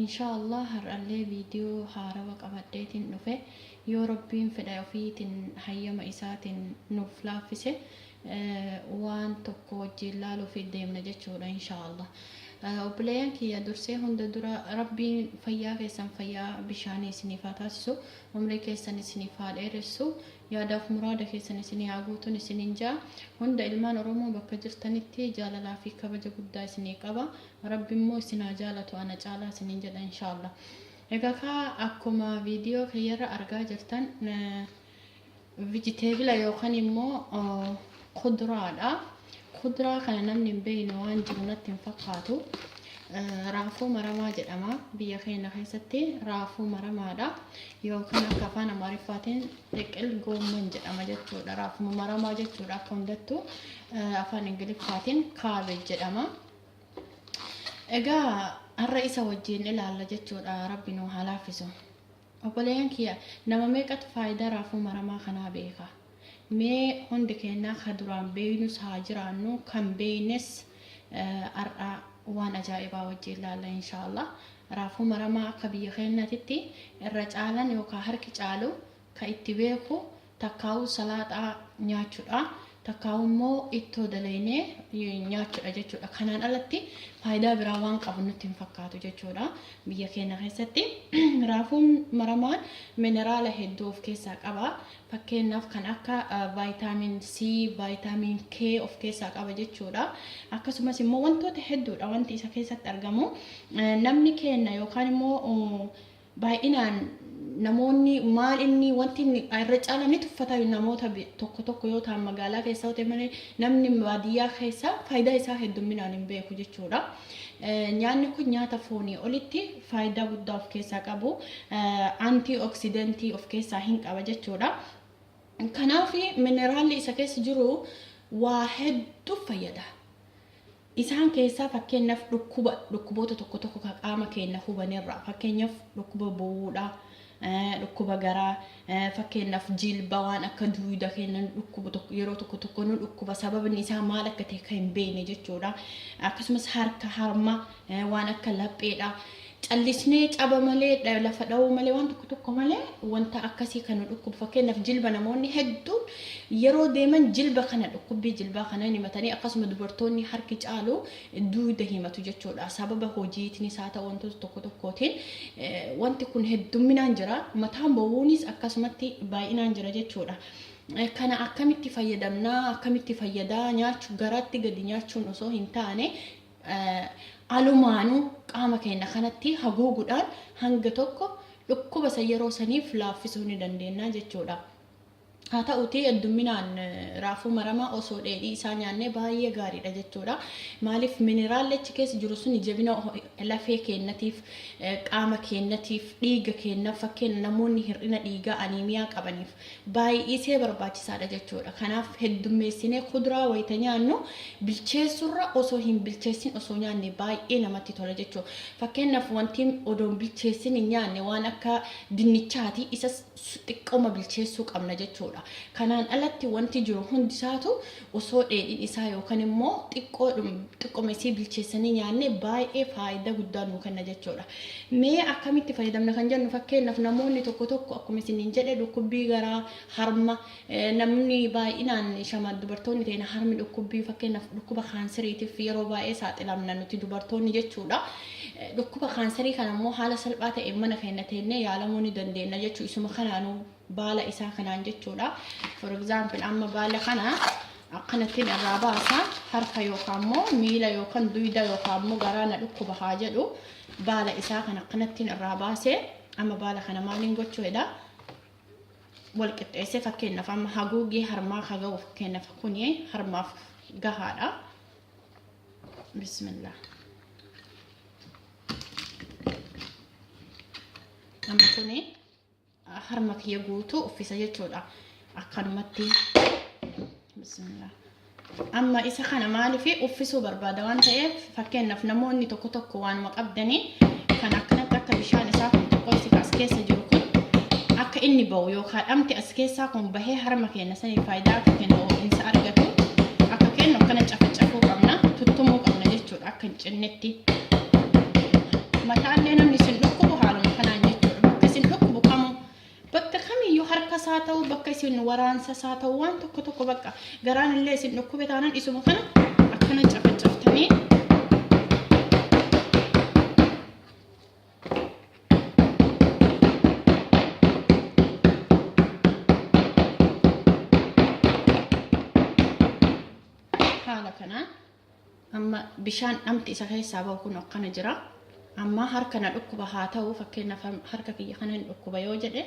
Inshaa Allah har'allee video haarawa qabadheetin dhufe yoo rabbiin fedha ofiitin hayyama isaatin nuuf laaffise waan tokko wajjiin laaluuf deemna jechuudha inshaa Allah obboleeyyan kiyya dursee hunda dura rabbiin fayyaa keessan fayyaa bishaanii isiniif haa taasisu umrii keessan isiniif haa dheeressu yaadaaf muraada keessan isinii haa guutun isinin ja'a hunda ilmaan oromoo bakka jirtanitti jaalalaa fi kabaja guddaa isinii qaba Rabbi immoo issin haa jaalatu ana caalaa isinin jedha inshallah egaa kaa akkuma video kiyyarra argaa jirtan vegetable yookan immoo kuduraadha kuduraa kana namni hin beekne waan jiru natti hin fakkaatu raafuu maramaa jedhama biyya keenya keessatti raafuu maramaadha yookaan akka afaan amaariffaatiin xiqil goomman jedhama jechuudha raafuma maramaa jechuudha akka hundattu afaan ingiliffaatiin kaabeej jedhama Egaa har'a isa wajjin ilaalla jechuudha rabbi nu haa laaffisu. Obboleeyyan kiyya nama meeqatu faayidaa raafuu maramaa kanaa beeka. Mee hundi keenyaa ka duraan beeynus haa jiraannu kan beeynes eh, har'a waan ajaa'ibaa wajjin ilaalla inshaallah. Raafuu maramaa akka biyya keenyaatitti irra caalan yookaan harki caalu ka itti beeku takkaahuu salaaxaa nyaachudha takkaahuu immoo ittoo dalaynee nyaachudha jechuudha kanaan alatti faayidaa biraa waan qabu nutti hin fakkaatu jechuudha biyya keenya keessatti raafuun maramaan mineraala hedduu of keessaa qaba fakkeenyaaf kan akka vaayitaamiin C vaayitaamiin K of keessaa qaba jechuudha akkasumas immoo wantoota hedduudha wanti isa keessatti argamu namni keenya yookaan immoo Baay'inaan namoonni maal inni wanti inni irra caalaan ni tuffata namoota tokko tokko yoo ta'an magaalaa keessa yoo ta'e malee namni baadiyyaa keessa faayidaa isaa heddumminaan hin beeku jechuudha. Nyaanni kun nyaata foonii olitti faayidaa guddaa of keessaa qabu antii oksidentii of keessaa hin qaba jechuudha. Kanaaf mineraalli isa keessa jiru waa hedduuf fayyada. Isaan keessaa fakkeenyaf dhukkuba dhukkuboota tokko tokko ka qaama keenna hubanerraa fakkeenyaf dhukkuba bowuudha, dhukkuba garaa, fakkeenyaf jilba waan akka duuyda keenna nu dhukkubu tokko yeroo tokko tokko nu dhukkuba sababni isaa maal akka ta'e ka hin beeyne jechuudha. Akkasumas harka harma waan akka lapheedha. Callisnee caba malee, dha, lafa dhawuu malee, waan tokko tokko malee wanta akkasii kan nu dhukkubu fakkeenyaaf jilba namoonni hedduun yeroo deeman jilba kana dhukkubbii jilbaa kana hin himatanii akkasuma dubartoonni harki caalu duuda himatu jechuudha sababa hojiitnis haa ta'u wantoota tokko tokkootiin wanti kun heddumminaan jira mataan bowwuunis akkasumatti baay'inaan jira jechuudha. Kana akkamitti fayyadamnaa akkamitti fayyadaa nyaachu garaatti gadi nyaachuun osoo hin taane alumaanu qaama keenna kanatti haguugudhaan hanga tokko dhukkuba san yeroo saniif laaffisuu ni dandeenna jechuudha. Haa ta'uutii heddumminaan raafuu maramaa osoo dheedhii isaa nyaannee baay'ee gaariidha jechuudha. Maaliif mineraalli achi keessa jiru suni jabina lafee keennatiif, qaama keennatiif, dhiiga keennaaf fakkeenya namoonni hir'ina dhiigaa aniimiyaa qabaniif baay'isee barbaachisaadha jechuudha. Kanaaf heddummeessinee kuduraa wayita nyaannu bilcheessurra osoo hin bilcheessin osoo nyaanne baay'ee namatti tola jechuudha. Fakkeenyaaf wanti odoo hin bilcheessin hin nyaanne waan akka dinnichaati isas xiqqooma bilcheessuu qabna jechuudha. Kanaan alatti wanti jiru hundisaatu osoo dheedhiin isaa yookan immoo xiqqoodhum xiqqoma isii bilcheessanii nyaanne baay'ee faayidaa guddaa nuu kenna jechuudha. Mee akkamitti fayyadamna kan jennu fakkeenyaaf namoonni tokko tokko akkuma isiniin jedhe dhukkubbii garaa harma namni baay'inaan shama dubartoonni ta'ina harmi dhukkubbii fakkeenyaaf dhukkuba kaanseriitiif yeroo baay'ee saaxilamna nuti dubartoonni jechuudha. Dhukkuba kaanserii kana immoo haala salphaa ta'een mana keenya teennee yaalamuu ni dandeenya jechuu isuma kanaanuu baala isaa kanaan jechuudha. For example amma baala kana akkanattiin irraa baasa harka yookaan immoo miila yookaan duyda yookaan immoo garaa na dhukkuba haa jedhu baala isaa kan akkanattiin irraa baase amma baala kana maaliin gochuu jedha wal qixxeessee fakkeenyaaf amma haguuggii harmaa haa ga'u fakkeenyaaf kuni harmaaf gahaadha. Bismillah. Amma kuni. harma kiyya guutuu uffisa jechuudha akkanumatti bismillah amma isa kana maaliif uffisuu barbaada waan ta'eef fakkeenyaaf namoonni tokko tokko waanuma qabdanii kan akkanatti akka bishaan isaa kun tokkotti as keessa jiru kun akka inni ba'u yookaan dhamti as keessaa kun bahee harma keenya saniif faayidaa akka kennu ho'insa argatu akka kennu akkana cafacafuu qabna tuttumuu qabna jechuudha akka cinnitti mataallee namni isin dhukkubu haaluma kanaan jechuudha bakka isin dhukkubu kamuu bakka kamiyyuu harka isaa ta'uu bakka isin waraansa isaa ta'uu waan tokko tokko bakka garaan illee isin dhukkube taanaan isuma kana akkana cafacaftanii haala kanaan Amma bishaan dhamti isa keessaa bahu kun akkana jira. Amma harka na dhukkuba haa ta'u fakkeenyaaf harka kiyya kana hin dhukkuba yoo jedhe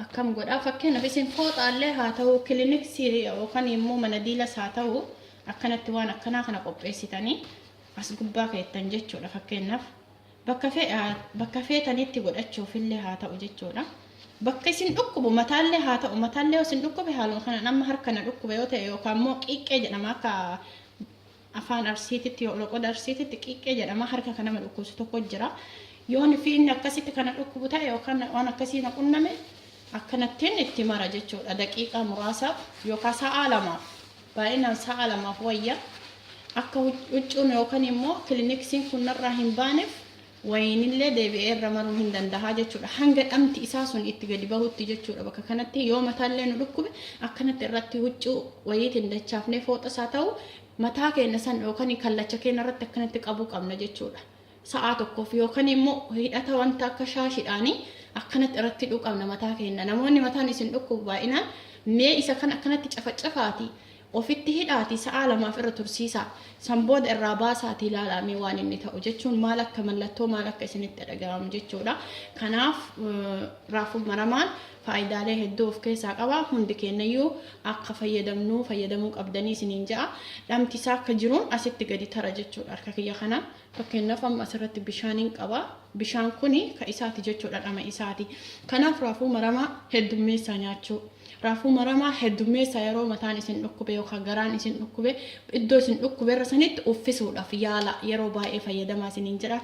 akkam godhaa fakkeenyaaf isin fooxaallee haa ta'u kiliniksii yookaan immoo mana diilas haa ta'u akkanatti waan akkanaa kana qopheessitanii as gubbaa keettan jechuudha fakkeenyaaf Bakka feetanitti godhachuufillee haa ta'u jechuudha. Bakka isin dhukkubu mataallee haa ta'u mataallee yoo isin dhukkube haaluma kanaan amma harka na dhukkuba yoo ta'e yookaan immoo qiiqqee jedhama akka afaan arsiititti yoo loqoda arsiititti qiiqqee jedhama harka kan nama dhukkubsu tokko jira. Yoon fi inni akkasitti kana dhukkubu ta'e yookaan waan akkasii na qunname akkanattiin itti mara jechuudha daqiiqaa muraasaaf yookaan sa'aa lamaaf. Baay'inaan sa'a lamaaf wayya. Akka huccuun yookan immoo kiliniksiin kun narraa hin baaneef wayiinillee deebi'ee irra maruu hin dandaha jechuudha. Hanga dhamti isaa sun itti gadi bahutti jechuudha. Bakka kanatti yoo mataallee nu dhukkube akkanatti irratti huccuu wayiitiin dachaafnee fooxas haa ta'u mataa keenya san yookan kallacha keenya irratti akkanatti qabuu qabna jechuudha. sa'aa tokkoof yookan immoo hidhata wanta akka shaashidhaanii akkanatti irratti hidhuu qabna mataa keenna namoonni mataan isin dhukkubu baay'inaan mee isa kan akkanatti cafacafaati ofitti hidhaati sa'aa lamaaf irra tursiisaa san booda irraa baasaati ilaalaa mee waan inni ta'u jechuun maal akka mallattoo maal akka isinitti dhaga'amu jechuudha kanaaf raafuu maramaan faayidaalee hedduu of keessaa qaba hundi keenyayyuu akka fayyadamnuu fayyadamuu qabdanii isiniin ja'a dhamti isaa akka jiruun asitti gadi tara jechuudha harka kiyya kana. Fakkeenyaaf amma asirratti bishaaniin qaba. Bishaan kun ka isaati jechuudha dhama isaati. Kanaaf raafuu maramaa heddummeessaa nyaachuu. Raafuu maramaa heddummeessaa yeroo mataan isin dhukkube yookaan garaan isin dhukkube iddoo isin dhukkube irra sanitti uffisuudhaaf yaala yeroo baay'ee fayyadamaa isiniin jedha.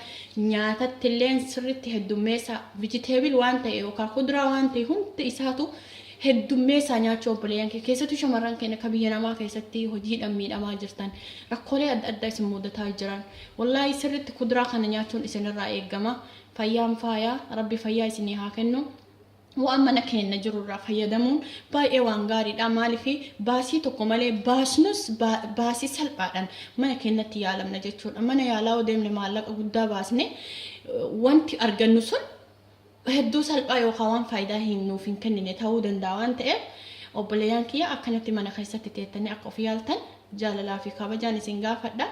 Nyaatattilleen sirriitti heddummeessaa vijiteebil waan ta'e yookaan kuduraa waan ta'e hundi isaatu heddummeessaa nyaachuu obboleeyyan kee keessattuu shamarran keenya akka biyya namaa keessatti hojiidhaan miidhamaa jirtan rakkoolee adda addaa isin mudataa jiran wallaahii sirriitti kuduraa kana nyaachuun isinirraa eegama fayyaan faayaa rabbi fayyaa isinii haa kennu waan mana keenya jirurraa fayyadamuun baay'ee waan gaariidha maaliif baasii tokko malee baasnus baa- baasii salphaadhaan mana keenyatti yaalamna jechuudha mana yaalaa yoo deemne maallaqa guddaa baasne eh, wanti argannu sun hedduu salphaa yookaa waan faaydaa hin nuuf hin kennine ta'uu danda'a waan ta'eef obboleeyaan kiyya akkanatti mana keessatti teettanii akka of yaaltan jaalalaa fi kabajaan isin gaafadha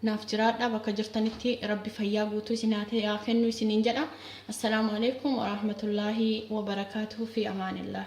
naaf jiraadhaa bakka jirtanitti rabbi fayyaa guutuu isin haa kennu isiniin jedha assalaamu aleeykum waraahmatullaahi wabarakaatuhu fi amaanillaah